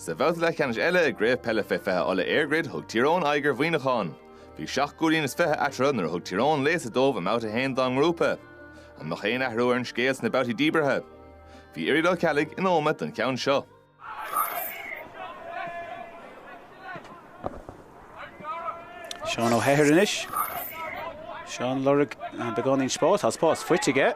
Sa bhabhta leathcheannais eile i gCraobh Peile Fé 20 Uladh EirGrid thug Tír Eoghain aghaidh ar Mhuineachán. Bhí seacht gcúilín is fiche eatarthu nuair a thug Tír Eoghain léasadh dóibh i mBabhta 1 dá ngrúpa. An mbeadh aon athrú ar an scéal sna babhtaí díbeartha? Bhí Irial Ó Ceallaigh in Ómaigh don cheann seo. Seán Ó hEithir anois. Seán ag lorg beagáinín spás. Tá spás faighte aige.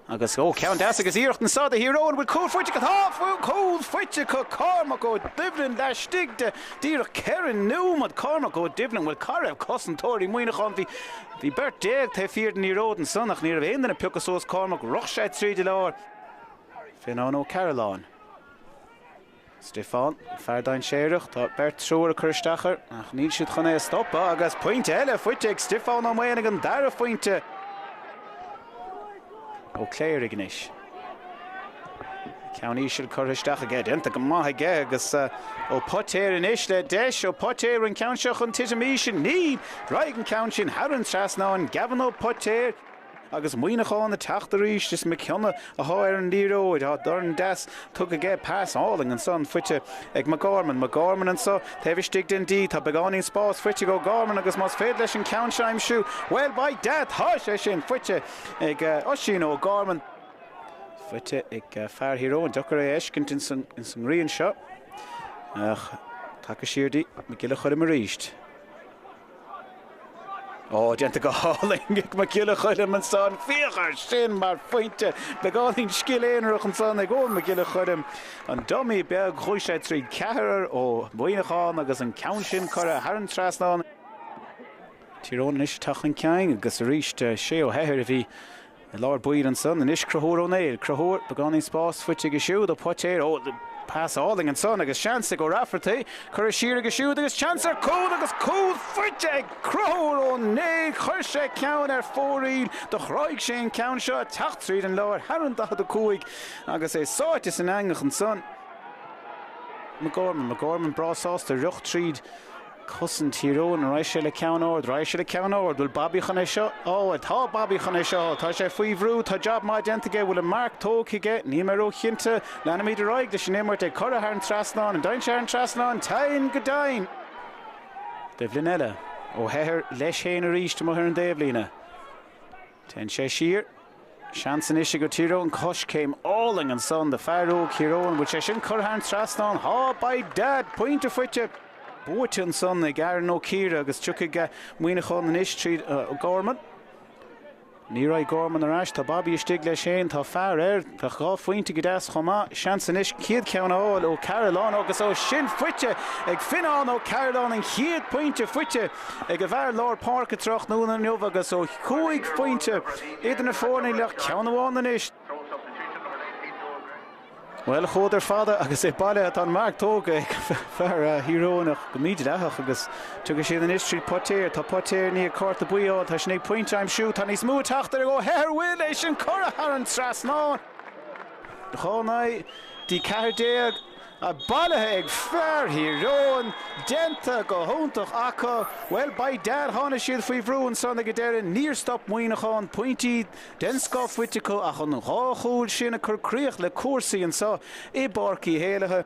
Agus ó ceann deas agus iarracht ansan do Thír Eoghain, an bhfuil cúl faighte acu. Tá cúl faighte acu. Cormac Ó Doibhlin laistigh de díreach ceithre nóiméad. Cormac Ó Doibhlin, bhuel cá raibh cosantóirí Muineacháin? Bhí bhí beirt déag taobh thiar den liathróid ansan ach ní raibh aon duine pioctha suas. Cormac, rith sé tríd an lár. Fionnán Ó Cearalláin. Stiofán, fear dainséireach, tá beirt triúr ag cur isteach air ach níl siad chun é a stopadh agus pointe eile faighte ag Stiofán Ó Maonaigh, an dara phointe. Ó Cléirigh anois. Ceann íseal curtha isteach aige, déanta go maith aige agus Ó Poitéir anois le deis, Ó Poitéir an ceann seo chun titim íseal, níl! Raghaidh an ceann sin thar an trasnán, Gavin Ó Poitéir. Agus Muineachán ag teacht arís, is Mac Cionnaith atá ar an liathróid, tá dorn deas tugtha aige, pas álainn ansan, faighte ag McGorman. McGorman anseo, taobh istigh den D. Tá beagáinín spáis faighte ag O'Gorman agus más féidir leis an ceann seo aimsiú, bhuel, by dad, tá sé sin! Faighte ag Oisín O'Gorman. Faighte ag fear Thír Eoghain. Deacair é a fheiscint ins an ngrian seo ach tugtha siar dtí Mac Giolla Choilm arís. Oh, déanta go hálainn ag Mac Giolla Choilm ansan. Féach ar sin mar phointe! Beagáinín scil aonarach ansan ag Eoghan Mac Giolla Choilm. An dummy beag, chuaigh sé tríd ceathrar ó Mhuineachán agus an ceann sin curtha thar an trasnán. Tír Eoghain anois ag teacht chun cinn agus arís Shea Ó hEithir a bhí I lár baill ansan anois Cruthúr Ó Néill, Cruthúr, beagáinín spás faighte aige siúd. Ó Poitéir, ó, pas álainn ansan agus seans ag Ó Raifeartaí, curtha siar aige siúd agus seans ar cúl agus cúl faighte ag Cruthúr Ó Néill, chuir sé ceann ar fóraoil, do thráigh sé an ceann seo, ag teacht tríd an lár, thar an 45 agus é sáite san eangach ansan. McGorman, McGorman breá sásta rith tríd cosaint Tír Eoghain. Raghaidh sé le ceann ard. Raghaidh sé le ceann ard. Bhfuil Bobby chun é seo a fháil? Tá Bobby chun é seo a fháil. Tá sé faoi bhrú. Tá jab maith déanta aige. Bhfuil an marc tógtha aige? Níl mé róchinnte. Leanfaimid ar aghaidh leis an imirt. Ag cur é thar an trasnán. An dtéann sé thar an trasnán? Téann go deimhin! Taobhlíne eile. Ó hEithir leis féin arís amuigh ar an dtaobhlíne. Téann sé siar. Seans anois ag Tír Eoghain coiscéim álainn ansan do fear óg Thír Eoghain. An bhfuil sé sin curtha thar an trasnán? Tá, by dad! Pointe faighte! buaite ansan ag Aaron Ó Ciardha agus tiocfaidh Muineachán anois tríd. Gorman. Ní raghaidh Gorman ar ais. Tá Bobby istigh leis fhéin. Tá fear air. Tá dhá phointe go deas chomh maith, seans anois an chéad cheann a fháil ó Carolan agus ó shin faighte ag Fionnán Ó Cearbhalláin an chéad pointe faighte ag a bhfear lár páirce tráthnóna inniu agus ó chúig phointe idir na foirne go ceann amháin anois. Bhuel, chuadar fada agus é bailithe. Tá an marc tógtha ag fear Thír Eoghain ach go mídhleathach agus Tiocfaidh siad anois tríd Poitéir. Tá Poitéir i ndiaidh cárta buí a fháil. Tá sé i ndiaidh pointe a aimsiú. Tá níos mó ag teacht ó Ó hEithir. An bhfuil sé sin curtha thar an trasnán. Chonnaigh, D14, bailithe ag fear Thír Eoghain. Déanta go hiontach acu. Bhuel, by dad, tháinig siad faoi bhrú ansan ag an deireadh. Níor stop Muineachán. Pointí den scoth faighte acu ach an dhá chúl sin ag cur críche le cúrsaí anso i bPáirc Uí Éalaithe.